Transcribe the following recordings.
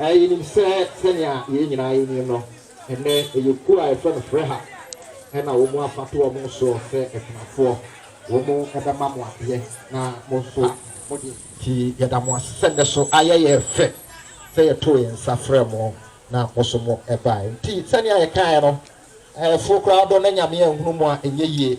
Ɛ, yenim sɛ, sɛnea yɛn nyinaa yenim no, ɛnnɛ ɛyɛ kuo a yɛfrɛ no Freha, ɛna wɔn afa to wɔn soɔ sɛ akunafoɔ. Wɔn bɛma mo adeɛ, na mo nso mode. Nti yɛda mo ase sɛ nnɛ so ayɛ yɛn fɛ sɛ yɛtoo yɛn nsa frɛɛ mo, na mo nso mo baeɛ. Nti sɛnea yɛkaeɛ no, ɛɛfoɔ koraa dɔ na Nyame anhunu mo a, ɛnyɛ yie.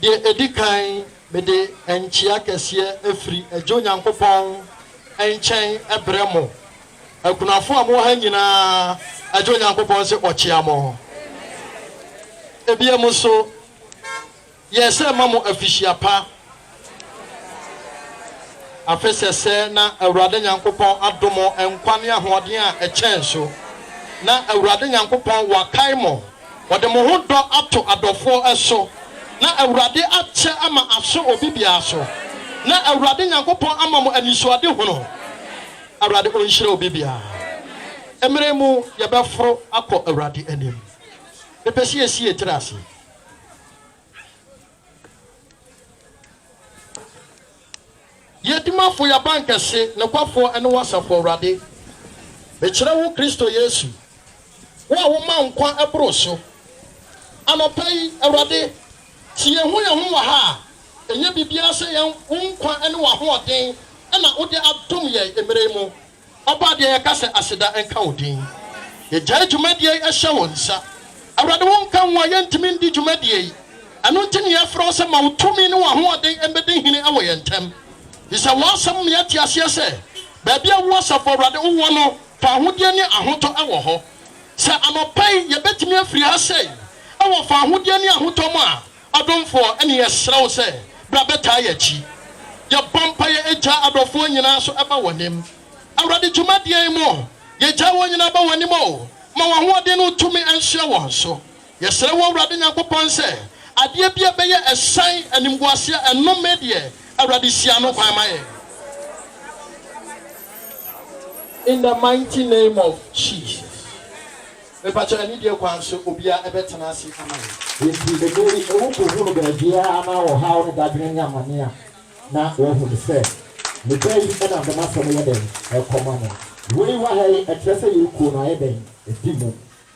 Deɛ ɛdi kan, mede nkyea kɛseɛ firi Agya Onyankopɔn nkyɛn brɛ mo, akunafoɔ a mowɔ ha nyina ara, Agya Onyankopɔn se ɔkyea mo. Ebia mo nso, yɛsɛ ma mo afihyia pa. Afe sɛsɛ na Awurade Nyankopɔn adom mo nkwa ne ahoɔden a ɛkyɛn so. Na Awurade Nyankopɔn wakae mo, ɔde mo ho dɔ ato adɔfoɔ so, na Awurade akyɛ ama aso obi biara so, na Awurade Nyankopɔn ama mo anisoadehunu. Awurade ɔnhyira obi biara. Mmerɛ yi mu yɛbɛforo akɔ Awurade anim. Mepɛ sɛ yɛsi yɛn tiri ase. Yɛ dimafo, yɛ abankɛse, nokwafo ne wo asafo, Awurade. Mekyerɛ wo Kristo Yesu, wo a woma nkwa boro so. Anɔpa yi, Awurade, sɛ yɛhu yɛn ho wɔ ha a, ɛnyɛ biribiara sɛ yɛn wo nkwa ne w'ahoɔden na wode adom yɛn mmerɛ yi mu. Ɔbɔ adeɛ yɛka sɛ aseda nka wo din Yɛgyae dwumadie yi hyɛ wo nsa Awurade wo nka wo a yɛntumi ndi dwumadie yi Ɛno nti ne yɛfrɛ wo sɛ ma wo tumi ne w'ahoɔden mmɛdi hene wɔ yɛn ntam Fi sɛ w'asɛm ma yɛate aseɛ sɛ baabi a wo asafo Awurade wo wɔ no fa ahodeɛ ne ahotɔ wɔ hɔ Sɛ anɔpa yi yɛbɛtumi afiri ha sɛi wɔ fa ahodeɛ ne ahotɔ mu a Adomfoɔ, ɛne yɛsrɛ wo sɛ bra bɛtaa yɛn akyi. Yɛbɔ mpaeɛ Agya adɔfoɔ nyinaa nso ba w'anim. Awurade dwumadie yi mu, yɛgyae wɔn nyinaa ba w'anim o, ma w'ahoɔden ne wo tumi nsoɛ wɔn so. Yɛsrɛ wo Awurade Nyankopɔn sɛ adeɛ bi a ɛbɛyɛ ɛsan animguaseɛ a ɛnnome deɛ, Awurade si ano kwan ma yɛn. In the mighty name of Jesus. Mepakyɛw ɛne deɛ kwan so obiara ɛbɛtena ase ama yɛn. Enti ɛnnɛ yi ɛwɔ kɔhunu baabiara na ɔhaw ne dadwene ne amane a na wahunu sɛ ne da yi ɛnam dɛm asɛm yɛ dɛn ɛrekɔma no. Wei wɔ ha yi ɛkyerɛ sɛ yɛn kuo no ayɛ dɛn ɛdi mu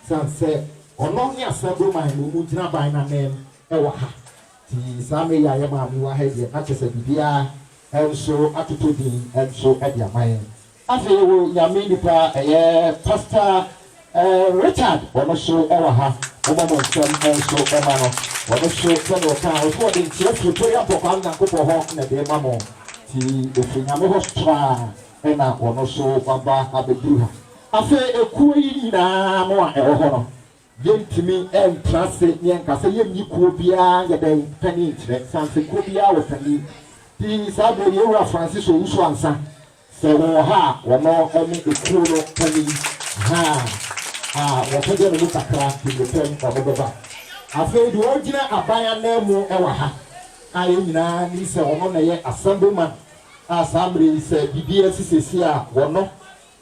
sane sɛ ɔno ne Assembly man no mu gyinaban no ananmu ɛwɔ ha nti saa mmerɛ yi a yɛn maame wɔ ha yi deɛ na kyerɛ sɛ biribiara nso atotɔ din nso ɛde ama yɛn Afei yɛwɔ Nyame nipa ɛyɛ Pastor Richard wɔn nso wɔ ha mommɔ mo nsam nso ma no wɔn nso sɛdeɛ ɔkaa ɔse ɔde nkyea firi Prayer Mpɔkwaa no Nyankopɔn hɔ na ɛde rema mo nti ɛfiri Nyame hɔ straa ɛna wɔn nso waba abɛduru ha. Afei ekuo yi nyinaa mo a ɛwɔ hɔ no Yɛntumi ntra ase na yɛnka sɛ yɛnni kuo biara nyɛ dɛn panin nkyerɛ, sane sɛ kuo biara wɔ panin. Pii saa berɛ yi yɛn Wura Francis Owusu Ansa sɛ wɔwɔ ha a wɔno ne ekuo no panin, ahaa, a wɔpɛgya ne mu kakra de mmirikɛm wɔno bɛba. Afei deɛ ɔgyina aban ananmu wɔ ha a yɛn nyinaa nim sɛ wɔno na ɛyɛ Assemblyman a saa mmerɛ yi sɛ biribi asi seesei a wɔno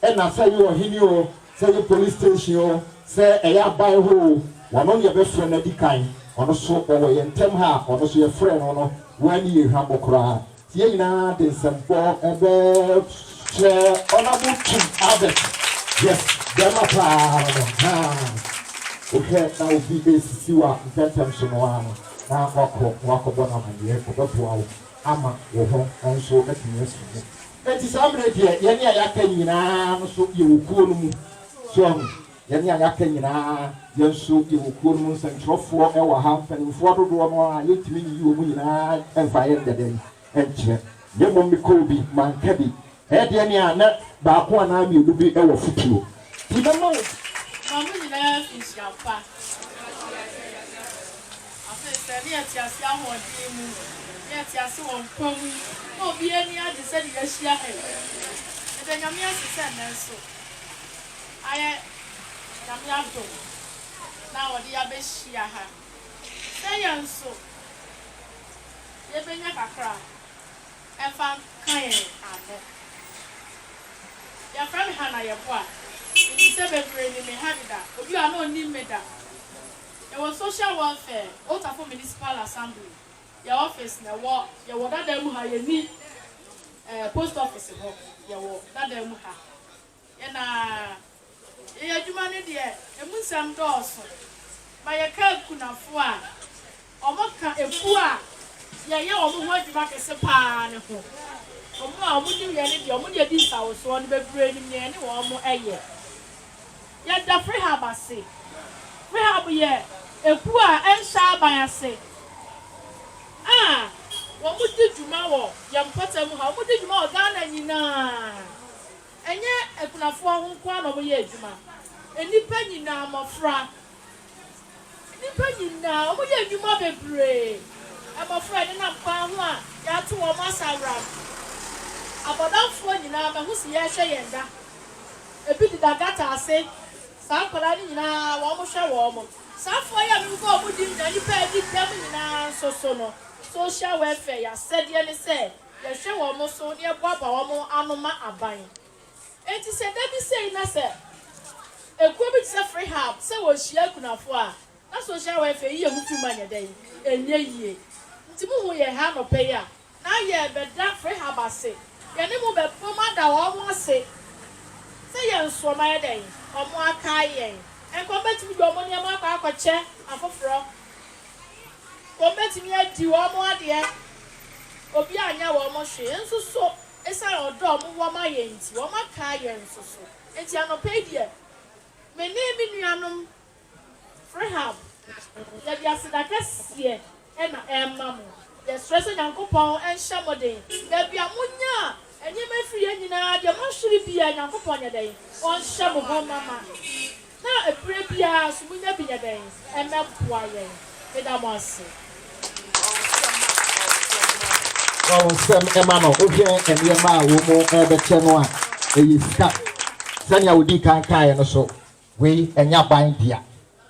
Nna sɛ eyɛ ɔhene o, sɛ eyɛ police station o, sɛ ɛyɛ aban hɔ o, wɔno ne yɛbɛfrɛ no adi kan. Ɔno so ɔwɔ yɛn ntam ha a, ɔno so yɛfrɛɛ no no, woaa ne yɛ hwammɔ koraa. Nti yɛn nyinaa de nsɛmpɔ bɛkyerɛ Honourable Twum Albert, yes, bɛɛma paa no no, haa, wohwɛ na obi resisi wo a, ntɛntɛm so no ara no na woakɔ na woakɔbɔ no amanneɛ, ɔbɛboa wo ama wo ho nso atumi asi mu. Enti saa mmerɛ deɛ yɛne a yɛaka nyina ara no nso yɛwɔ kuo no mu. So ahu? Yɛne a yɛaka nyina ara, yɛn nso yɛwɔ kuo no mu. Nsɛntwerɛfoɔ wɔ ha, mpanimfoɔ dodoɔ no ara a yɛntumi nyiyi wɔn nyina ara mfa yɛ nyɛ dɛn? Nkyerɛ. Na mmom mekɔɔ bi, manka bi. Ɛyɛ deɛ ne a na baako anaa mmienu bi wɔ fotuo. Nti mɛma wo. Ma mo nyina ara nsuampa. Afei sɛ ne yɛte ase ahoɔden mu, ne yɛte ase wɔ nkwa mu, na obiara ani agye sɛdeɛ yɛahyia ɛ. Yɛda Nyame ase sɛ nnɛ nso ayɛ Nyame adom na ɔde yɛ abɛhyia ha. Sɛ yɛn nso yɛbɛnya kakra mfa nka yɛn ano. Yɛfrɛ me Hannah Yeboah, menim sɛ bebree nim me ha deda, obi a na ɔnnim me da. Yɛwɔ Social Welfare, Otafoɔ Municipal Assembly, yɛn office na ɛwɔ. Yɛwɔ Dada mu ha, yɛnni ɛɛ post office hɔ, yɛwɔ Dada mu ha. Yɛn na yɛyɛ adwuma no deɛ, ɛmu nsɛm dɔɔso. Ma yɛka akunafoɔ a wɔka ekuo a yɛyɛ wɔn ho adwuma kɛse pa ara no ho. Wɔn a wɔnim yɛn no deɛ, wɔn deɛ di nsawosoɔ no bebree nim deɛ yɛne wɔn yɛ. Yɛda Frihab ase. Frihab yɛ ekuw a ɛnhyɛ aban ase a wɔdi dwuma wɔ yɛn mpɔtam ha. Wɔdi dwuma wɔ Ghana nyinaa. Ɛnyɛ akunafoɔ ho nko ara na wɔyɛ adwuma. Nnipa nyinaa, mmɔfra. Nnipa nyinaa, wɔn yɛ nnwuma bebree. Mmɔfra a ɛnenam kwan ho a yɛato wɔn asaworam. Abɔdamfoɔ nyinaa, mahu se yɛrehwɛ yɛn da. Ebi deda gata ase. Saa nkwadaa no nyinaa, wɔhwɛ wɔn. Saa afoa yi a merebɔ wɔn din nyinaa, nnipa a adi dɛm nyinaa nso so no, Social Welfare, yɛn asɛdeɛ ne sɛ yɛhwɛ wɔn so na yɛboaboa wɔn ano ma aban. Enti sɛ da bi sei na sɛ ekuo bi te sɛ Freehub sɛ wɔrehyia akunafoɔ a, na social welfare yi yɛ ho twum a ɛnyɛ dɛn? Ɛnyɛ yie. Nti mohuu yɛn ha anɔpa yi a, na yɛrebɛda Freehub ase. Yɛne mo bɛbom ada wɔn ase sɛ yɛn so wɔayɛ dɛn? Wɔakae yɛn. Ɛnka wɔbɛtumi de wɔn nneɛma akɔ akɔkyɛ afoforɔ. Wɔbɛtumi adi wɔn adeɛ. Obiara annyɛ wɔn hwee. Nso so Esiane ɔdɔ a wɔwɔ ma yɛn nti, wɔataa yɛn nso so. Enti anɔpa yi deɛ, me ne me nuanom Freehub, yɛde aseda kɛseɛ na ɛrema mo. Yɛsrɛ sɛ Nyankopɔn nhyɛ mo den. Baabi a monya nneɛma firi yɛ nyinaa, deɛ moahwere biara, Nyankopɔn nyɛ dɛn? Ɔnhyɛ mo ho mma ma. Na ɛberɛ biara nso monya bi nyɛ dɛn mmɛboa yɛn. Meda mo ase. Fa wo nsɛm ma no. Wohwɛ nneɛma a wɔn rebɛkyɛ no a, ɛyɛ sika. Sɛnea wodii kan kaeɛ no so, wei ɛnyɛ aban dea.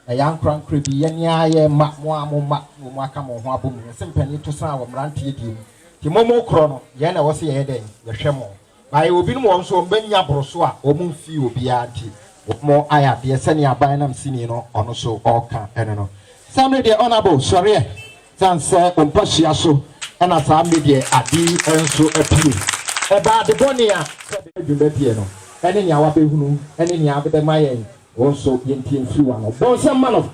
Ɛyɛ ankorankorɛ bi. Yɛn ara yɛn mma, mo ara mo mma na wɔaka mo ho abom. Wɔse mpanin to sã wɔ mmeranteɛ deɛ mu. Nti mo mokorɔ no, yɛn na ɛwɔ sɛ yɛyɛ dɛn? Yɛhwɛ mo. Na yɛwɔ binom wɔ hɔ nso, wɔannya boro so a wɔmfii obiara nti, wɔayɛ adeɛ sɛdeɛ aban nam sini no ɔno so ɔreka ɛno no. Saa mmerɛ deɛ Honourable sɔreɛ, sane sɛ wo mpa hyia so, ɛna saa mmerɛ deɛ ade yi nso apue. Ɛbaa ade bɔne a sɛ bɛ dwene bɛ deɛ no, ɛne nea wabɛhunu, ɛne nea ade bɛma yɛn, wo nso yɛntie mfiri w'ano. Bɔ nsɛm ma no.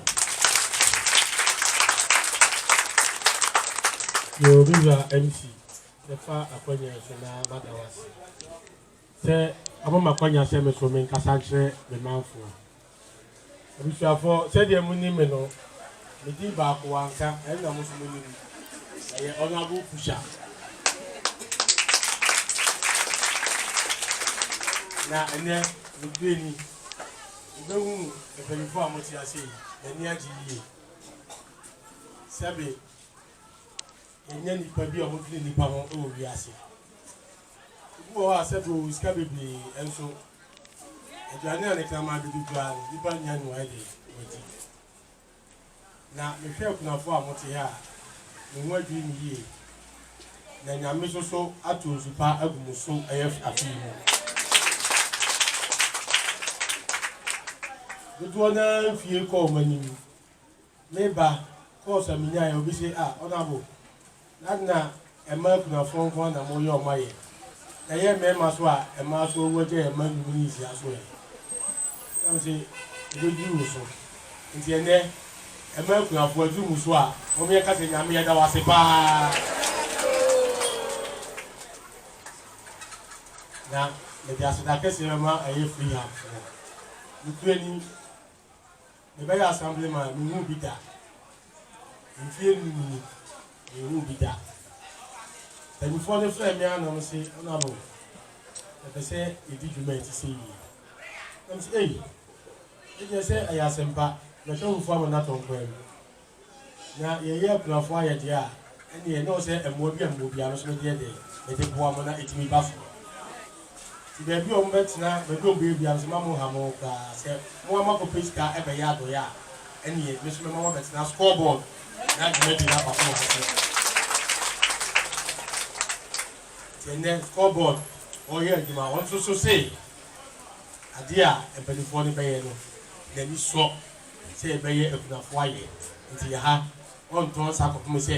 Yoo me wura MC Mefa akwanya yi so na mada wo ase sɛ wama me akwanya sɛ me so me nkasa nkyerɛ me manfoɔ. Abusuafoɔ, sɛdeɛ mo nim me no, me din baako Wanka, ɛno na mo nso mo nim. Ɛyɛ Honourable Fuhya. Na ɛnɛ, me due ni, mo bɛhu mpaninfoɔ a mo te ase yi, m'ani agye yie. Sɛbe. Yɛnyɛ nnipa bi a wɔdwene nnipa ho wɔ wiase. Ebi wɔ hɔ a sɛ bere wɔ sika bebree nso aduane a ne kraman dodo dwaa no nnipa nnya nnuae de wɔadi. Na mehwɛ akunafoɔ a wɔte ha a, me ho adwiri me yie. Na Nyame nso so ato nsu pa agu mo so ɛyɛ afe yi mu. Dodoɔ no ara mfie kɔ wɔn anim. Me ba, course a minyaeɛ, obi se ah honourable na ade na ɛma akunafoɔ nko ara na mo yɛ ɔma yɛ, ɛyɛ mmarima so a mmaa nso ɔwu agya yɛ mma nnwuma ne nsia so ɛ? Na me se ɛbɛduru wo so, nti ɛnnɛ ɛma akunafoɔ aduru mo so a mom yɛ nka sɛ Nyame yɛda wo ase paa. Na mede aseda kɛseɛ bɛma ɛyɛ Freehub foɔ, me kurani. Mebɛyɛ Assemblyman, menhuu bi da. Mfeɛ num ni, menhuu bi da. Mpaninfoɔ no frɛɛ me ara na wɔn se, Honourable, yɛpɛ sɛ yɛdi dwuma a ɛte sɛ yie. Na mese, Ei! Me deɛ sɛ ɛyɛ asɛmpa, mɛtwa mo fo ama no atɔ nkwan mu. Na yɛyɛ akunafoɔ ayɛ deɛ a, ɛnneɛ na ɔwɔ sɛ mmoa bi a mewɔ biara nso mede yɛ dɛn? Mede boa mo na ɛtumi ba so. Nti baabi a wɔbɛtena, baabi a wɔbɛyɛ biara nso, mma monnha mo ho koraa. Sɛ mo ara moakɔpɛ sika bɛyɛ adɔeɛ a, ɛnneɛ me nso mɛma moabɛtena score board na dwumadie no akɔ so wɔ ha sɛ. Nti ɛnnɛ score board ɔreyɛ adwuma, wɔn nso so se adeɛ a mpanimfoɔ no bɛyɛ no, n'ani sɔ. Sɛ yɛbɛyɛ akunafoɔ ayɛ nti yɛha. Wɔntɔ nsa kɔpem sɛ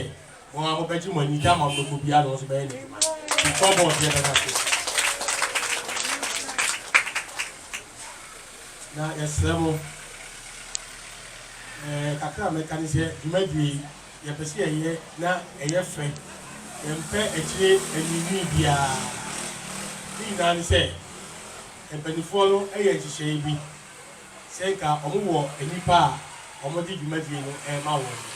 mo ara mobɛgye mo ani de ama ɔdɔfoɔ biara na ɔno nso bɛyɛ n'adwuma. Ti kɔ bɔɔl deɛ bɛda so. Na yɛsrɛ mo, ɛɛ kakra a mɛka ne sɛ dwumadie yi yɛpɛ sɛ yɛyɛ na ɛyɛ fɛ. Yɛmpɛ akyire anwiinwii biara. Ne nyinaa ne sɛ mpaninfoɔ no yɛ nhyehyɛeɛ bi. Sɛ nka wɔwɔ nnipa a wɔde dwumadie no rema wɔn no,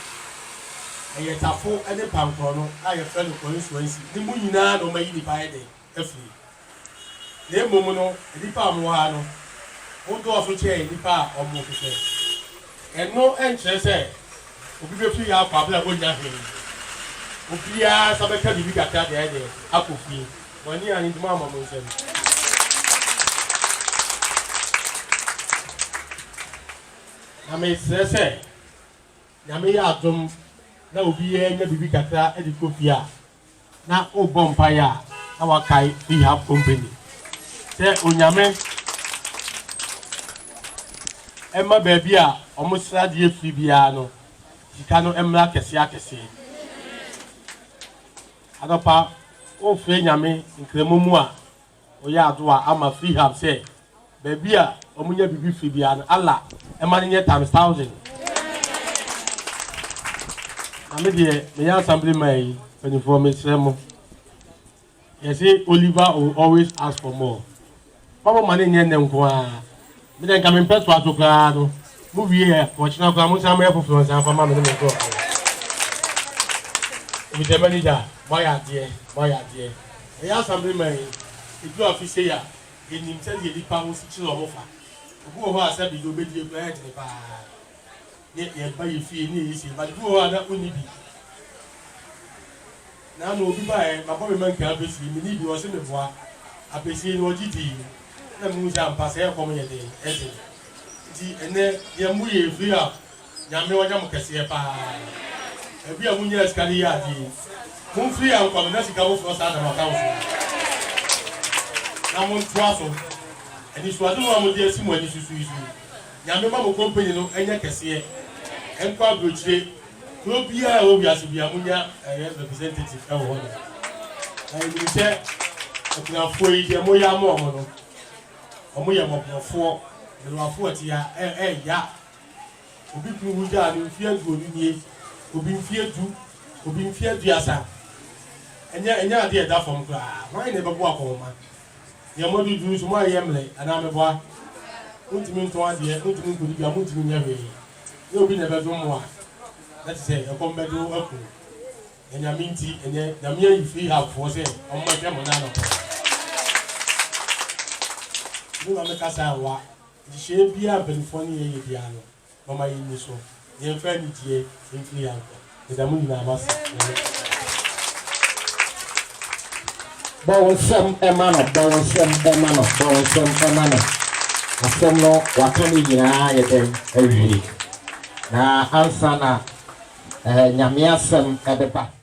ɛyɛ tafo ne pankɔrɔno a yɛfrɛ no kɔnsuansi no mu nyinaa na wɔayi nnipa ayɛ dɛn afiri. Na mmom no, nnipa a wɔwɔ ha no, wodɔɔso kyɛn nnipa a wɔhwehwɛ. Ɛno nkyerɛ sɛ obi bɛfiri ha akɔ abere a ɔnnya hwee. Obiara nsa bɛka biribi kakra de ayɛ dɛn akɔ fie. Mo ani anyi nti moamma mo nsam. Na mesrɛ sɛ Nyame yɛ adom na obiara nya biribi kakra de kɔ fie a, na wobɔ mpaeɛ a na wakae Rehab Company sɛ Onyame ɛmma baabi a wɔn sradeɛ firi biara no sika no mmra akɛseɛ akɛseɛ. Anɔpa wofrɛ Nyame Nkramu mu a Ɔyɛ adoa ama freehub sɛ baabi a ɔmo nya biribi firi biara no Allah ɛma no nyɛ times thousand Na me deɛ meyɛ assembly man yi mpanyinfoɔ mesrɛ mo yɛse Oliver will always ask for more Mabɔ mane nyɛ nnɛ nko aa me deɛ nka mempɛ toa so koraa no mo wie ɛ ɔkyena koraa monsan moyɛ foforɔ nsan mfa ma me ne me nkorɔfoɔ Mr manager moayɛ adeɛ moayɛ adeɛ ɛyɛ asamble ma yi ɛduru afe sei a yɛnim sɛdeɛ nipa ho si kyere ɔmo fa obi wɔ hɔ a sɛbe deɛ ɔbɛdie koraa ɛyɛ dene paa. Ne yɛ ba yɛ fie ne yɛ yɛ sie but bi wɔ hɔ a na ɔnni bi na ama obi baeɛ mabɔ me manka afesie menni bi ɔse meboa afesie no ɔgye dii na mehu sɛ ampa sɛ ɛkɔm yɛ den ɛsen nti ɛnɛ deɛ mo yɛ free up nyame ɔnya mo kɛseɛ paa ɛbi a mo nyɛ sika de yɛ adeɛ mo free up nkɔ no na sika foforɔ saa dama kan so na mo ntoa so ɛnisuade ho a mo de asi mo ani susu yi so yi Nyame ma mo company no nyɛ kɛseɛ nkɔ abrokyire kuro biaa ɛwɔ wiase bia mo nya ɛyɛ representative ɛwɔ hɔ nom na yɛ nim sɛ akunafoɔ yi deɛ mo yɛ ama ɔmo no ɔmo yɛ mɔborɔfoɔ mmerewafoɔ ɛte ya ɛ ɛ ya obi kunu wu gyaa no mfie aduonu nie obi mfie du obi mfie aduasa ɛnyɛ ɛnyɛ adeɛ ɛda fam koraa hwan na ɛbɛboa kɔnma Deɛ mode duru so, moayɛ mmerɛ anaa meboa? Montumi ntɔn adeɛ, montumi nkɔdi dwa, montumi nyɛ hwee. Yɛ obi na ɛbɛdom mo a, na te sɛ ɛkɔm bɛde wo aku no. Na Nyame nti, ɛnnɛ, Nyame ayi Fihabfoɔ sɛ wɔmmɛhwɛ mo nnɛ anɔpa yi. Me ma mekasa a, ɛnwa. Nhyehyɛeɛ biara a mpanimfoɔ ne yɛn yɛ biara no, Momma yɛnni so, yɛmfa anigyeɛ mfiri yɛn akoma. Meda mo nyinaa mo ase. Nyame. Bɔ wo nsam ma no, bɔ wo nsam ma no, bɔ wo nsam ma no. Asɛm no waka ne nyinaa ayɛ dɛn awie, na ansa na eh, Nyame asɛm ɛbɛba.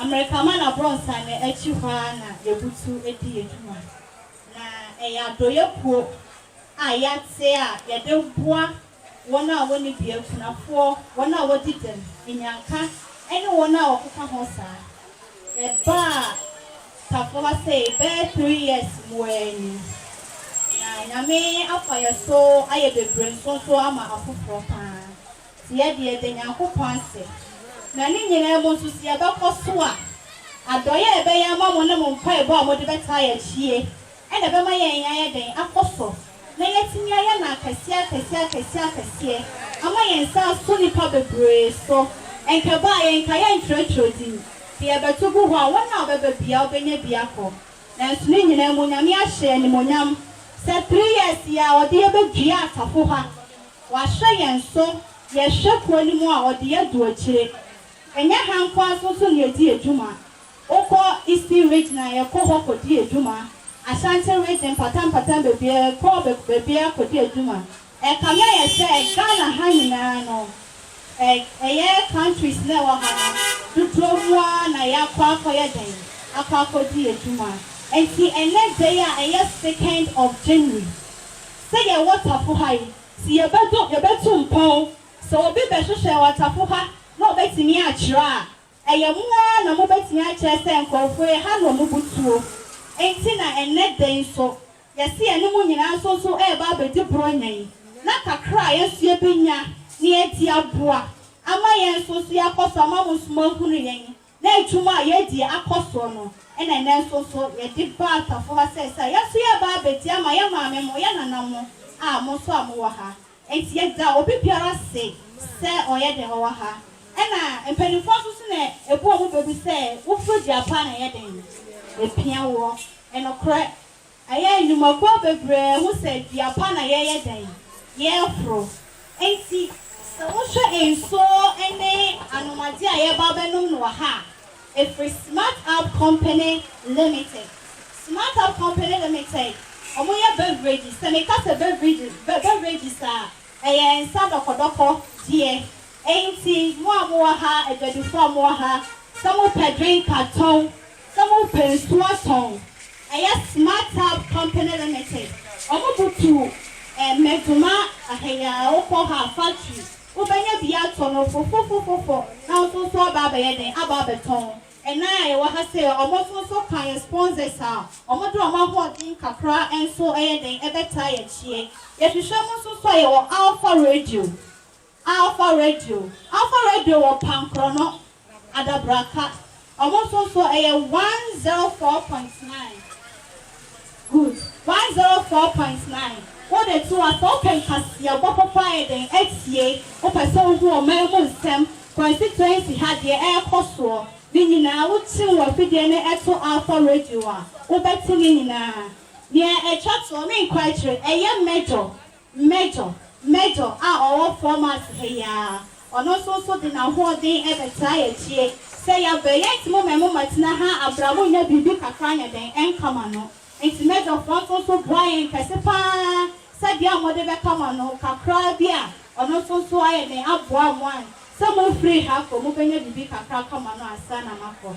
Amerikama na Brɔnsa na akyi hɔ ara na yɛbutu di yɛn dwuma. Na ɛyɛ adɔeɛ kuo a yɛate a yɛde boa wɔn a wɔnni bia, akunafoɔ, wɔn a wɔdi dɛm, nnyanka ne wɔn a wɔkeka ho saa. Yɛbaa Tafo ha sei bɛyɛ three years mmuaa ni. Na Nyame afa yɛn so ayɛ bebree nso nso ama afoforɔ pa ara. Sɛ yɛde yɛn da Nyankopɔn ase, na ne nyinaa mu nso sɛ yɛbɛkɔ so a, adɔe a ɛbɛyɛ ama mo ne mo mpaebɔ a mode bɛtaa yɛn akyie na ɛbɛma yɛn ayɛ dɛn akɔ so na yɛatumi ayɛ no akɛseɛ akɛseɛ akɛseɛ akɛseɛ ama yɛn nsa aso nnipa bebree so. Ɛnkɛbaa yɛnka yɛntwerɛtwerɛ din, sɛ yɛbɛto gu hɔ a wɔn a wɔbɛba biaa wɔbɛnya bi akɔ. Nanso ne nyinaa mu Nyame ahyɛ yɛn animuonyam sɛ three years yi ara ɔde yɛbɛdua asafo ha W'ahwɛ yɛn so, yɛhwɛ kuo no mu a ɔde yɛ du akyire. Ɛnyɛ ha nko ara so nso na yɛdi adwuma. Wokɔ Eastern Region a yɛkɔ hɔ kɔ di adwuma, Ashanti Region mpata mpata baabiara yɛkɔ baabiara kɔ di adwuma. Ɛkame ayɛ sɛ Ghana ha nyinaa no, ɛyɛ countries na ɛwɔ ha no dodoɔ mu ara na yɛakɔ akɔ yɛ dɛn? Akɔ akɔ di adwuma. Ɛnti ɛnɛ da yi a ɛyɛ second of January, sɛ yɛwɔ tafo ha yi, se yɛbɛdo, yɛbɛtu mpɔn sɛ obi bɛhwehwɛ wɔ tafo ha na ɔbɛtumi akyerɛ a, ɛyɛ mo ara na mobɛtumi akyerɛ sɛ nkorɔfoɔ yi, ha na wɔn bo tuo. Enti na ɛnnɛ da yi nso, yɛse yɛne mo nyinaa nso nso reba abɛdi Buronya yi, na kakra a yɛn nso yɛbɛnya na yɛde aboa ama yɛn nso nso yɛakɔ so ama mo nso moahunu yɛn. Na ntum a yɛadi akɔ soɔ no na ɛnnɛ nso nso yɛde ba atafo ha sɛ sɛ a yɛn nso yɛreba abɛdi ama yɛn maame mo, yɛn nana mo a mo nso a mowɔ ha. Enti yɛda obi biara ase sɛ ɔyɛ dɛn ɔwɔ ha. Ɛna mpaninfoɔ nso so na ɛbu wɔn bɛ bi sɛ wofiri deɛ apaa na ɛyɛ dɛn? Ɛpia woɔ. Ɛnokorɛ. Ɛyɛ nnwumakuo bebree ho sɛ dua pa na yɛyɛ dɛn? Yɛreforo. Enti sɛ wohwɛ nsuo ne anomadeɛ a yɛreba abɛnom no wɔ ha a, ɛfiri SmartUp Company Limited. SmartUp Company Limited, wɔyɛ beverages. Sɛ meka sɛ beverages, beverages a, ɛyɛ nsa dɔkɔdɔkɔ deɛ. Enti mo a mowɔ ha, adwadifoɔ a mowɔ ha, sɛ mopɛ drink a, tɔn. Sɛ mo pɛ nsuo tɔn, ɛyɛ Smart Tap Company Limited, ɔmo butuw eh Medoma aheyaa wokɔ ha factory wobɛnya bi atɔ no fofofofofo na nso nso aba abɛyɛ dɛn aba abɛtɔn ɛnaa a yɛwɔ ha sei ɔmo nso nso ka yɛ sponsors a ɔmo de ɔmo ahoɔden kakra nso ɛyɛ dɛn ɛbɛtaa yɛ kyeɛ yɛhwehwɛ mo nso nso a yɛwɔ Alpha Radio. Alfa Radio, Alfa Radio wɔ Pankrɔnɔ, Adabraka, ɔmo nso nso ɛyɛ 104.9 Good 104.9 Wo de to a sɛ wopɛ nkaseɛbɔ papa ayɛ dɛn atie Wopɛ sɛ wohu ɔman mu nsɛm Kwasi Twɛnsi ha deɛ ɛɛkɔ soɔ ne nyinaa wo tune w'afidie ne ɛto Alfa Radio a wobɛte ne nyinaa Nea ɛtwa toɔ menkɔ akyire ɛyɛ mɛdɔ Major, Major a ɔwɔ Formarth ha yi ara, ɔno nso nso de n'ahoɔden bɛtaa yɛ akyie. Sɛ yɛabrɛ, yɛnte mo mmamu mmatena ha abra mo nnya biribi kakra nyɛ dɛn nka mo ano. Nti Major foɔ nso nso boa yɛn kɛse pa ara sɛ deɛ a wɔde bɛka mo ano kakraa bi a ɔno nso nso ayɛ dɛn aboa mo an sɛ mofiri ha kɔ mobɛnya biribi kakra aka mo ano ansa na moakɔ.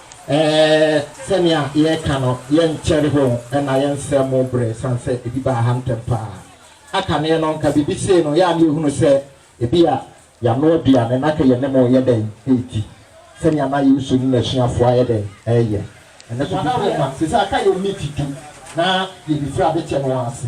Ɛɛ, sɛnea yɛreka no, yɛnkyɛre ho na yɛnsɛe mo bere esiane sɛ ebi baa ha ntɛm paa. A Kane no, anka biribi sei no, yɛ a na yɛhunu sɛ ebia yɛanoa aduane na anka yɛne mo reyɛ dɛn redi, sɛnea na Yesu ne n'asuafo ayɛ dɛn reyɛ. Ɛno nso bi bɛma. Seesei aka yɛn miniti du na yɛbefiri adekyɛ no ara ase.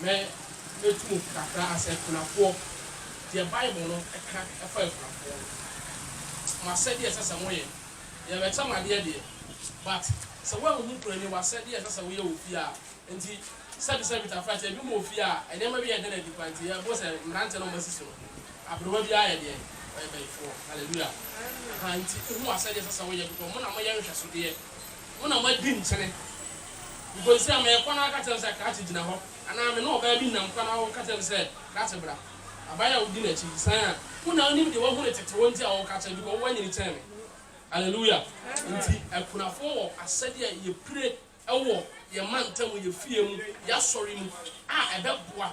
Me, metu mu kakra asɛ akunafoɔ, deɛ Bible no ka fa akunafoɔ ho. Mo asɛdeɛ ɛsɛ sɛ moyɛ, yɛbɛkyɛ mo adeɛ deɛ, but sɛ woanhu Kurani w'asɛdeɛ ɛsɛ sɛ woyɛ wɔ fie a, nti sɛbi sɛbi tafra kyɛ bi mu wɔ fie a, nneɛma bi yɛ den adi koraa nti yɛbo sɛ mmeranteɛ no wɔasisi no, aberewa biara yɛ deɛn? Ɔyɛ bayifoɔ. Hallelujah. Ahaa, nti hu w'asɛdeɛ ɛsɛ sɛ woyɛ because mo na moyɛ nhwɛsodeɛ. Wo na woadi nkyene. Mponsi a mekɔ na woka kyerɛ me sɛ krakye gyina hɔ anaa me ne ɔbaa bi nam kɔ na woka kyerɛ me sɛ krakye bra. Aban a wodi n'akyi san a wo na wonim deɛ woahunu tete hɔ nti a woka kyerɛ because woanyini kyɛn me. Alleluia. Nti akunafoɔ wɔ asɛdeɛ a yɛpire wɔ yɛn mantam, yɛn fie mu, yɛasɔre mu a ɛbɛboa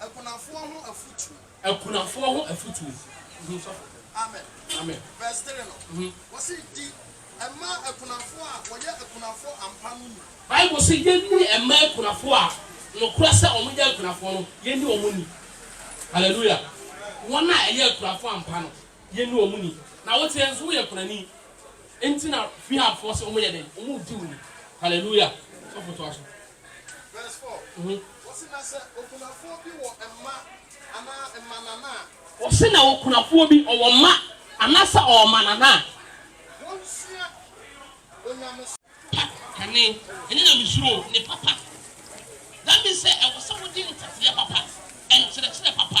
Akunafoɔ ho afutuo. Akunafoɔ ho afutuo. Mhm, sɔfo. Amen. Amen. Verse three no, Mhm. wɔsi di ɛma akunafoɔ a wɔyɛ akunafoɔ ampa no ni. Bible se yenni ɛma akunafoɔ a nokorɛ sɛ wɔn yɛ akunafoɔ no, yenni wɔn ni. Hallelujah. Wɔn a ɛyɛ akunafoɔ ampa no, yenni wɔn ni. Na woteɛ nso woyɛ kunani, enti na Fihafoɔ se wɔn yɛ dɛn? Wɔn di wo ni. Hallelujah. Sɔfo toa so. Wɔse na okunafoɔ bi ɔwɔ mma anaasɛ ɔwɔ mmanana a. Pa kane, ɛne nyamesuro ne papa. That means sɛ ɛwɔ sɛ wode nteteɛ papa, nkyerɛkyerɛ papa,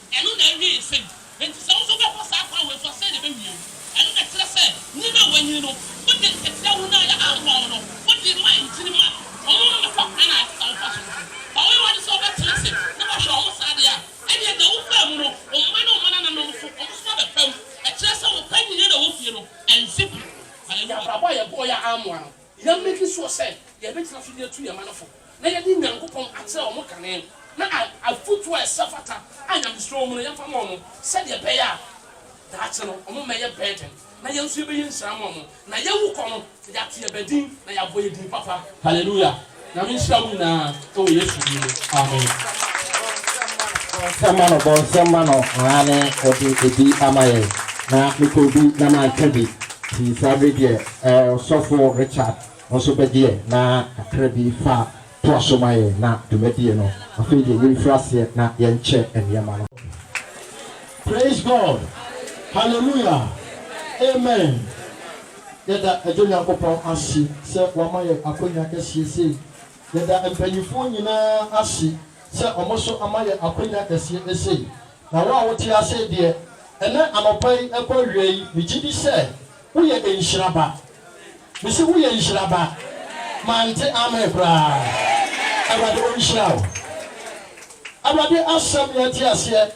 Ɛno na ɛwee nsɛm yi. Enti sɛ wo nso wobɛfa saa kwan wei so a, sɛn na ɛbɛwie wo? Ɛno na ɛkyerɛ sɛ nwini a wɔanyini no, wode nkatia hunu a ɛyɛ ammɔ wo no, wode rema nkyini ma wɔn ma wɔfa kwan a ɛte saa wɔfa so no so. Fa woyɛ w'ade sɛ wobɛtena ase na woahwɛ wɔn saa deɛ a, ɛnneɛ deɛ wofaa mu no, wo mma ne wo mmanananom nso, wɔn nso abɛfa mu. Ɛkyerɛ sɛ wo panyini a na ɛwɔ fie no, ansi pi. Hallelujah. Yɛn abrabɔ a yɛbɔeɛ a ammoa no, Yɛameki sure sɛ yɛbɛgyina so de atu yɛn mma no fo na yɛde Nyankopɔn akyerɛ wɔn kane na afotuo a ɛsɛ fata a Nyamesuro wɔ mu no yɛmfa mma wɔn sɛdeɛ ɛbɛyɛ a daakye no wɔn mmɛyɛ burden na yɛn nso yɛbɛyɛ nhyira ama wɔn na yɛwu kɔ no yɛate yɛn ba din na yɛabɔ yɛn din papa. Hallelujah! Nyame nhyira mo nyinaa wɔ Yesu din mu amen. Bɔ nsɛm ma no bɔ nsɛm ma no aane ɔde ɛbi ama yɛn na me kɔɔ bi na mantwa bi nti saa bere deɛ eh ɔsɔfo Richard wo nso bɛgyeɛ na kakra bi fa toa so ma yɛn na dwumadie no afei deɛ yɛn firi aseɛ na yɛn kyɛ nneɛma no. Praise God hallelujah amen. Yɛda Agya Nyankopɔn ase sɛ wama yɛn akwanya kɛseɛ sei. Yɛda mpaninfoɔ nyinaa ase sɛ wɔn so ama yɛn akwanya kɛseɛ esei. Na wo a wote ase deɛ, ɛnɛ anɔpa yi ɛkɔ awia yi, megye di sɛ woyɛ nhyira ba. Mese woyɛ nhyira ba. Mante amen koraa. Awurade ɔnhyira wo. Awurade asɛm yɛte aseɛ.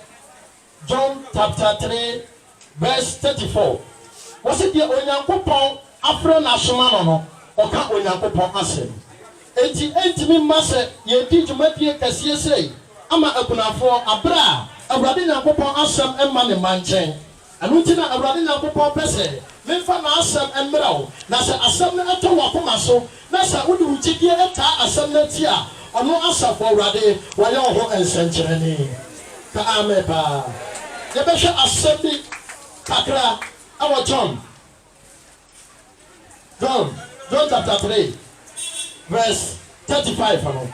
John chapter three verse thirty four, wɔse deɛ Onyankopɔn afrɛ no asoma no no, ɔka Onyankopɔn asɛm. Enti ɛntumi mma sɛ yɛredi dwumadie kɛseɛ sei ama akunafoɔ aberɛ a Awurade Nyankopɔn asɛm mma ne mma nkyɛn. Ɛno nti na Awurade Nyankopɔn pɛ sɛ memfa N'asɛm mmrɛ wo, na sɛ Asɛm no tɔ w'akoma so Na sɛ wode wo gyedie taa asɛm no akyi a, ɔno, Asafo Awurade, wayɛ wo ho nsɛnkyerɛnne. Ka amen paa. Yɛbɛhwɛ asɛm bi kakra wɔ John, John, John chapter three verse thirty five no.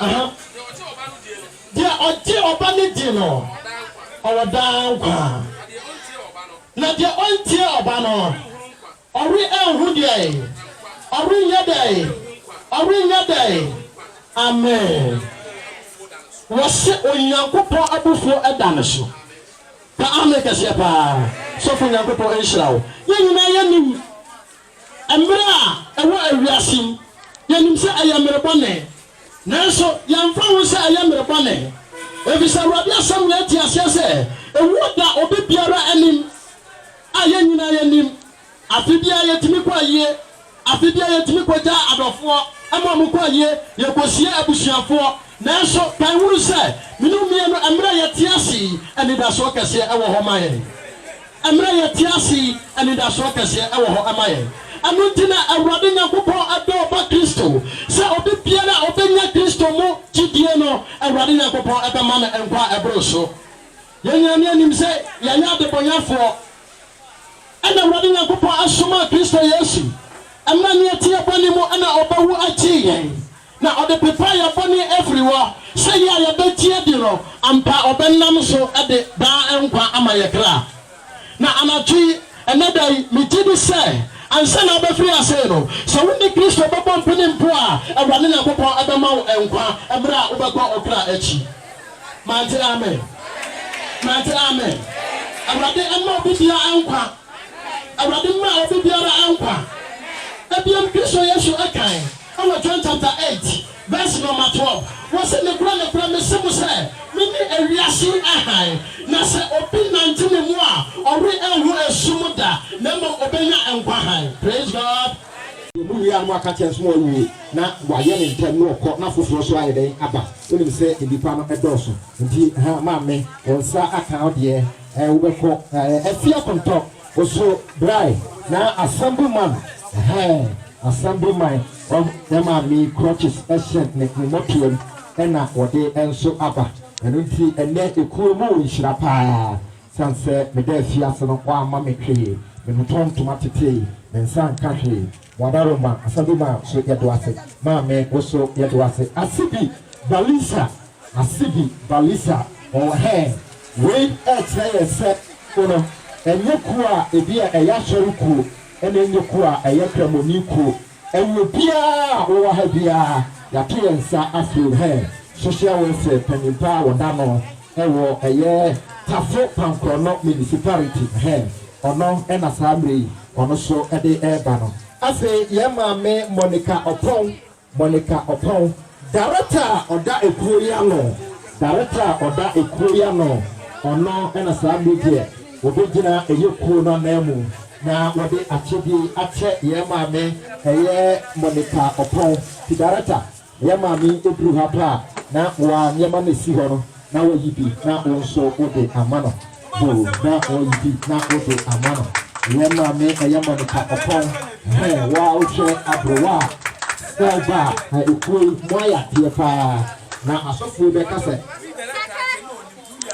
Aha, Deɛ ɔgye Ɔba no di no, ɔwɔ daa nkwa, na deɛ ɔntie Ɔba no, ɔrenhu deɛn? Ɔrenyɛ dɛn? Ɔrenyɛ dɛn? Amen. Wɔse Onyankopɔn abufuo da no so. Ka amen kɛseɛ paa. Sɔfo Nyankopɔn nhyira wo. Yɛn nyinaa yɛnim. Mmere a ɛwɔ wiase yi, yenim sɛ ɛyɛ mmere bɔne. Nanso yɛmfa ho sɛ ɛyɛ mmere bɔne, efisɛ Awurade Asɛm na yɛte aseɛ sɛ owuo da obi biara anim, a yɛn nyinaa yɛnim. Afe biara yɛtumi kɔ ayie. Afe biara yɛtumi kɔgya adɔfoɔ ma wɔkɔ ayie, yɛkɔsie abusuafoɔ. Nanso ka nhunu sɛ, mene wo mmienu, mmere a yɛte ase yi, anidasoɔ kɛseɛ wɔ hɔ ma yɛn. Mmerɛ yɛte ase yi, anidasoɔ kɛseɛ wɔ hɔ ma yɛn. Ɛno nti na Awurade Nyankopɔn dɔ Ɔba Kristo, sɛ obi biara a ɔbɛnya Kristo mu gyidie no, Awurade Nyankopɔn bɛma no nkwa a ɛboro so. Yɛn nyinaa ne yɛnim sɛ yɛyɛ adebɔnyɛfoɔ, ɛna Awurade Nyankopɔn somaa Kristo Yesu, mmerɛ a ne yɛte yɛn bɔne mu na ɔbɛwu gyee yɛn. Na ɔde pepa yɛn bɔne firi hɔ, sɛ yɛ a yɛbɛgye adi no, ampa ɔbɛnam so de daa nkwa ama yɛn kra. Na anadwo yi, ɛnnɛ da yi, megye di sɛ, ansa na wobɛfiri ase yi no, sɛ wone Kristo bɛbɔ mpene mpo a, Awurade Nyankopɔn bɛma wo nkwa mmerɛ a wobɛkɔ wo kra akyi. Mante amen? Mante amen? Awurade mma obi biara nkwa. Awurade mma obi biara nkwa. Ebiem Kristo Yesu kae wɔ John chapter eight verse nɔma twelve, ɔse, Nokorɛ, nokorɛ, mese mo sɛ, mene ewiase hann, na sɛ obi nante me mu a, ɔrenhu esum da, na mmom obenya nkwa hann. Praise God! Deɛ mowie ara no moaka kyerɛ no sɛ moawie na wayɛ no ntɛm na ɔkɔ na afoforɔ nso ayɛ dɛn aba. Wonim sɛ nnipa no dɔɔso nti, ha, maame, wo nsa aka wo deɛ. Eh wobɛkɔ eh afie akontɔ osuo brae na assembly man eh assembly man ɔm na maame crutches ɛhyɛ ne ne mɔtoam ɛna wɔde ɛnso aba ɛno nti ɛnɛ ekuo mu nhyira paa san sɛ meda afie ase no wamma me hwee me notɔn ntoma tetee me nsa nka hwee Wada Roma asɛmbi maa so yɛdo ase maa me wo so yɛdo ase Asibi Balisa Asibi Balisa ɔɔ hɛɛ Wei ɛɛkyerɛ yɛn sɛ o no ɛnyɛ kuo a ebi a ɛyɛ asɔre kuo ɛna ɛnyɛ kuo a ɛyɛ kramoni kuo ɛyɛ obiaa a ɔwɔ ha biaa yato yɛn nsa afrɛ o hɛɛ Social Welfare panyin paa wɔda no Ɛwɔ ɛyɛ Tafo Pankorɔnɔ Municipality hɛ, ɔno na saa mmerɛ yi ɔno nso de reba no. Afei yɛn maame Monica Ɔpɔn, Monica Ɔpɔn, Darekta a ɔda ekuo yi ano, Darekta a ɔda ekuo yi ano, ɔno na saa mmerɛ yi deɛ ɔbɛgyina ɛyɛ kuo no ananmu na wɔde akyɛdeɛ yi akyɛ yɛn maame ɛyɛ Monica Ɔpɔn, Ti Darekta. Yɛn maame yi duru ha pɛ a, na wa nneɛma na esi hɔ no, na wayi bi na wo nso wode ama no. Ho, na wayi bi na wode ama no. Yɛn maame, ɛyɛ Monica Ɔpɔn. Ho, wo a wohwɛ aberewa a na ɔba a, na ekuo yi mo ayɛ adeɛ pa ara. Na asɔfoɔ bɛ ka sɛ.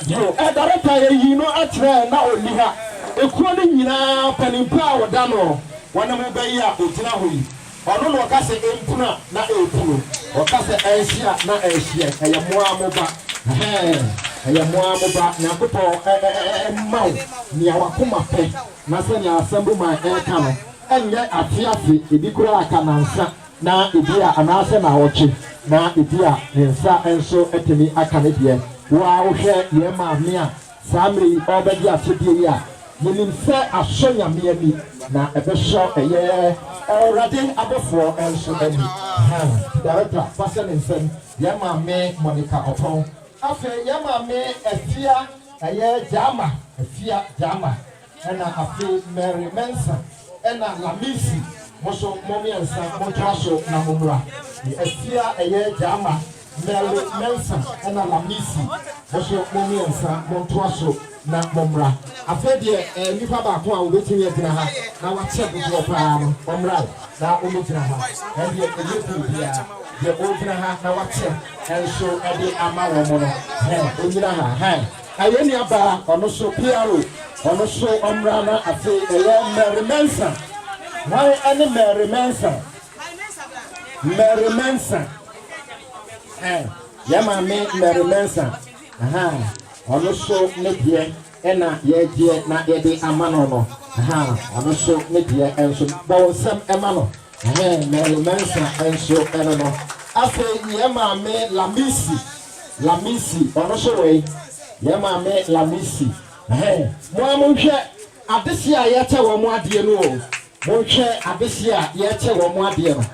Yo, ɛdarepa yɛ yii no akyerɛ yɛn na ɔnni ha. Ekuo no nyinaa, mpaninpa a wɔda noɔ, wɔne mo bɛ yi a ɔgyina hɔ yi, Ɔno na ɔka sɛ ɛmpunu a na ɛrepunu, ɔka sɛ ɛnhye a na ɛrehyeɛ, ɛyɛ mo ara mo ba, ɛhɛɛ, ɛyɛ mo ara mo ba, Nyankopɔn mma wo nea w'akoma pɛ, na sɛnea asɛm bi ma ɛreka no, ɛnyɛ afe afe, ebi koraa ka nansa, na ebi a anaasɛ naawɔtwe, na ebi a ne nsa nso atumi aka ne deɛ, wo ara wohwɛ yɛn maame a Saa mmerɛ yi ɔrebɛgye asodie yi a yɛnim sɛ asɔ Nyame ani na ɛbɛsɔ ɛyɛ. Awurade abɔfoɔ nso ani. Hɛn Director fa hyɛ ne nsam, yɛn maame Monica Ɔpɔn, afei yɛn maame Afia ɛyɛ Gyama, Afia Gyama. Ɛna afei Mary Mensah ɛna Lamisi mo nso mo miɛnsa mo ntoa so na mo mmra me afie a ɛyɛ Gyama Mary Mensah ɛna Lamisi mo nso mo miɛnsa mo ntoa so na mo mmra afei deɛ ɛɛ nipa baako a obetumi agyina ha na wakyɛ dodoɔ paa no ɔmmra na ɔmmɛgyina ha ɛdeɛ ɛyɛ firi biara deɛ ɔgyina ha na wakyɛ ɛnso ɛde ama wɔn no hɛn ɔnyina ha hɛn. Ayɛ nua baa ɔno so PRO ɔno so ɔmmra na afei ɛyɛ Mary Mensah hwan ɛne Mary Mensah Mary Mensah eh yɛ maame Mary Mensah aha ɔno so ne deɛ ɛna yɛgyeɛ na yɛde ama no no aha ɔno so ne deɛ ɛnso bɔ wo nsɛm ɛma no Ɛhɛɛ Merle Mensah nso ɛno no. Afei yɛn maame Lamisi, Lamisi, ɔno nso wei, yɛn maame Lamisi, ɛhɛɛ, mo ara monhwɛ adeseɛ a yɛkyɛ wɔn adeɛ no o, monhwɛ adeseɛ a yɛkyɛ wɔn adeɛ no,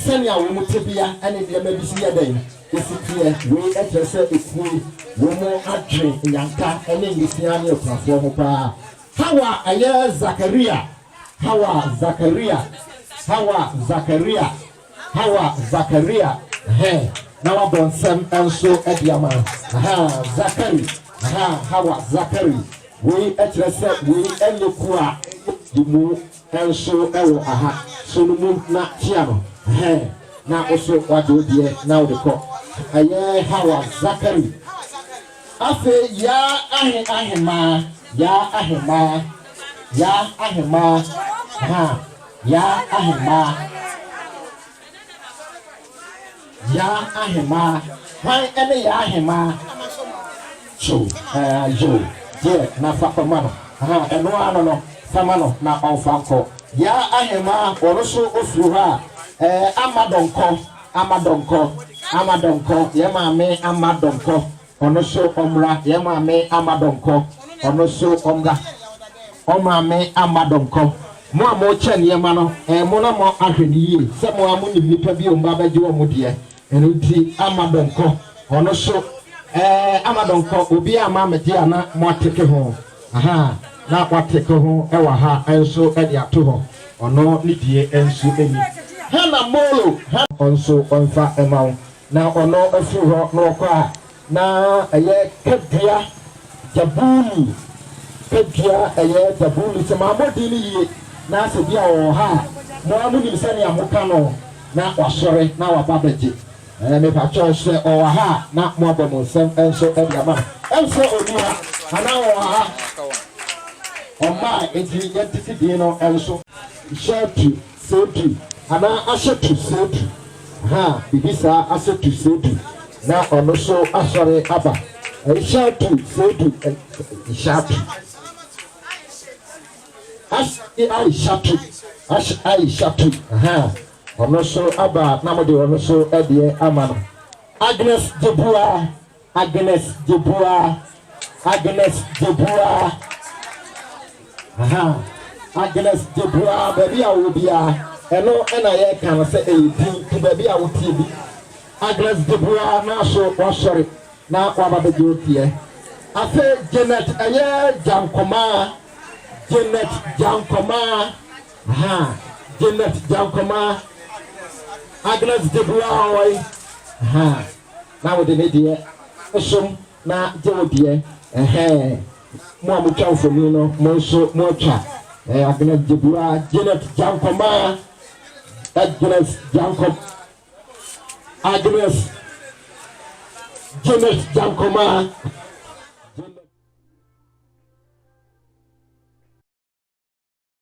sɛnea wɔn tebea ne nneɛma bi si yɛ dɛn, ɛsi teɛ, wei kyerɛ sɛ ɛpue wɔn adwene, nnyanka ne nwisiaa ne akunafoɔ ho paa. Hawa, ɛyɛ Zakaria. Hawa Zakaria Hawa Zakaria Hawa Zakaria Ahaa na wabɔ nsɛm nso de ama Ahaa Zakari Ahaa Hawa Zakari Wei kyerɛ sɛ wei nyɛ kuo a ɛyɛ yi mu nso wɔ aha So no mu na tia no Ahaa na wo so wagye wo deɛ na wode kɔ Ɛyɛ Hawa Zakari. Afei Yaa ahe ahemaa Yaa ahemaa Yaa ahemaa haa Yaa ahemaa Yaa ahemaa Hwan ne Yaa ahemaa Kyew ɛɛ Kyew deɛ na fa kɔma no Aha ɛno ara no no Fa ma no na ɔmfa nkɔ Yaa ahemaa ɔno nso ɔfiri hɔ a ɛɛ Ama dɔnkɔ Ama Donkɔ, Ama Donkɔ, yɛn maame Ama Donkɔ, ɔno so ɔmmra, yɛn maame Ama Donkɔ, ɔno so ɔmmra, ɔn maame Ama Donkɔ. Mo a mokyɛ nneɛma no, ɛyɛ mo na mo ahwɛ no yie, sɛ mo ara mo nim nnipa bi ɔmba bɛgye wɔn deɛ, ɛno nti Ama Donkɔ, ɔno so ɛɛ Ama Donkɔ, obiara mma ammɛgye a na mo ateke ho. Aha a na wɔateke ho wɔ ha nso de ato hɔ, ɔno ne die nso ni. Ha na Molo, ha. Nso ɔmfa mma wo. Na ɔno firi hɔ na ɔkɔ a, na ɛyɛ Kadua Jabulu, Kadua ɛyɛ Jabulu. Sɛ mammɔ din no yie na sɛ bi a ɔwɔ ha a, mo ara monim sɛdeɛ moka no, na wasɔre na waba abɛgye. Ɛɛ mepa kyɛw sɛ ɔwɔ ha a na mo abɔ mo nsɛm nso de ama no. Ɛnsɛ ɔni ha anaa ɔwɔ ha. Ɔmmae enti yɛntete din no nso. Hyɛ tu sɛ du anaa ahyɛ tu sɛ du. Ahaa biribi saa ahyɛ tu sɛ du na ɔno nso asɔre aba. Ɛnhyɛ tu sɛ du nhyɛ tu. Ash i ahyɛ tu ash i hyɛ tu ahaa Ɔno so aba a na mo de ɔno so deɛ ama no. Agnes Jebuah Agnes Jebuah Agnes Jebuah Aha Agnes Jebuah baabi a wowɔ biara ɛno ɛna yɛka no sɛ ɛyɛ din ti baabi a wotie bi Agnes Jebuah na so wasɔre na waba bɛgye wo teɛ afei Janet ɛyɛ Gyankomaa Janet Gyankomaa Ha Janet Gyankɔmaa, Agnes Gyebuahoy, ha na wode ne deɛ som na gye wo deɛ, ɛhɛɛ, mo a mo twa mfoni no mo nso mo atwa, eh, Agnes Gyebua, Janet Gyankɔmaa, Agnes Gyankɔm, Agnes Janet Gyankɔmaa, Janet.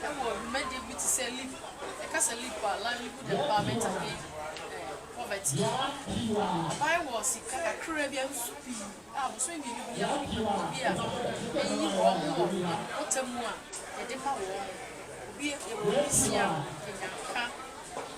Wɔ dwumadie bi te sɛ LEAP, yɛka sɛ LEAP a, Livelihood Empowerment Against Poverty, ɔbae wɔ sika kakraa bi a nso pii a bosome mmienu bi a ebi a ɛyi wɔn wɔ mpɔtam a yɛde ma wɔn. Obi yɛwɔ obi nsia, yɛnya nka.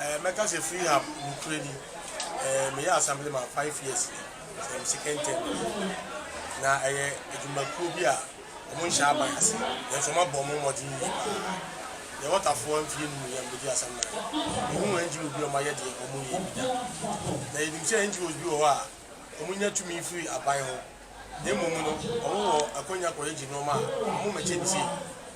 Eh mɛka sɛ free hub nokorɛ ni eh meyɛ assembly man five years ni sɛ me second term ni na ɛyɛ adwumakuo bi a ɔmo nhyɛ aban ase nanso ɔmo abɔ ɔmo mmɔden yie paa yɛ wɔtafoɔ mfie num yɛ mbɛdi asɛm nan me hu NGOs bi ɔmo ayɛ deɛ ɔmo nyɛ bi da na yɛ nim sɛ NGOs bi wɔ hɔ a ɔmo nya tumi firi aban ho na mmom no ɔmo wɔ akwanya kɔ yɛ gye nnoɔma a ɔmo mɛkyɛ ni sei.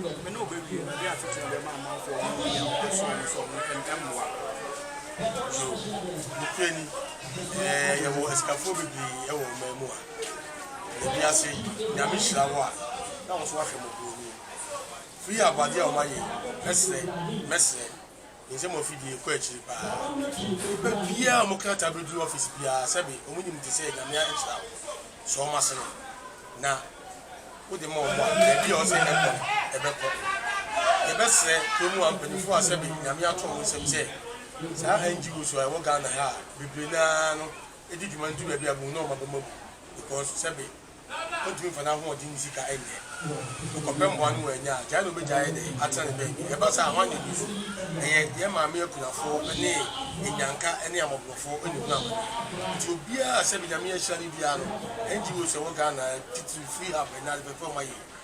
Me ne wo bɛwie na de asetena bɛma amanfoɔ ɔne wɔn yɛ ahoteɛ soɔ no sɛ ɔno ɛm ɛmmoa Yoo nokorɛ ni ɛɛ yɛwɔ asikafoɔ bebree ɛwɔ ɔman mu a na bi ase Nyame hyira wo a na wo nso wahwɛ mɔborɔ ni Free aboadeɛ a wɔn ayɛ yi mɛsrɛ mɛsrɛ Nsɛm a ofi die kɔ akyiri paa. Nnipa biara a wɔn krataa bedu office biara sɛbe wɔn nim te sɛ Nyame akyira wo so wɔn asene na wode ma wɔn a, baabi a ɛwɔ sɛ ɛkɔ no ɛbɛkɔ. Yɛbɛsrɛ kurom ha mpanyinfoɔ a sɛbe Nyame ato wɔn nsam sɛ saa NGOs a ɛwɔ Ghana ha a bebree no ara no di dwuma no ntu baabi a bohu na wɔn abam abu because sɛbe ontumi mfa n'ahoɔden ne sika nyɛ. Ɔkɔpɛ mmoa no wannya a, gyae na obegyae ayɛ dɛ atena ne baabi. Ɛba saa a, hwan na edi fɔ? Ɛyɛ yɛn maame akunafo ne anyanka ne amɔborɔfo na ehu amane. Enti obiara a sɛbe Nyame ahyira no biara no, ɛnde wuo sɛ ɛwɔ Ghana, titiriw Freehub, ɛnna ade fɛfɛw ma yɛn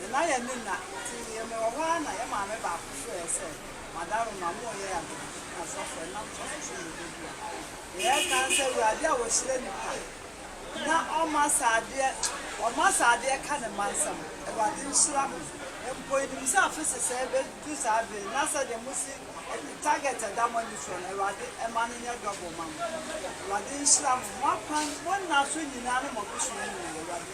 Yɛn ayɛ ne nna, nti yɛ me wɔ hɔ ara na yɛ maame baako hwɛɛ sɛ madaro ma mo yɛ adodoso ne asɔfo ɛnam sɔfo so mmɛbɔ dua. Na yɛ ka sɛ Awurade a wɔhyira nipa na ɔma saa adeɛ, ɔma saa adeɛ ka ne mma nsam. Awurade nhyira mo. Mpo yɛnim sɛ afe sesɛɛ bɛ du saa bere yi na sɛdeɛ mo si adu target a ɛda mo ani soɔ no Awurade ɛma no nyɛ double ma mo. Awurade nhyira mo, mo akwan, mo nna so nyinaa ne mo abusua nyinaa. Awurade.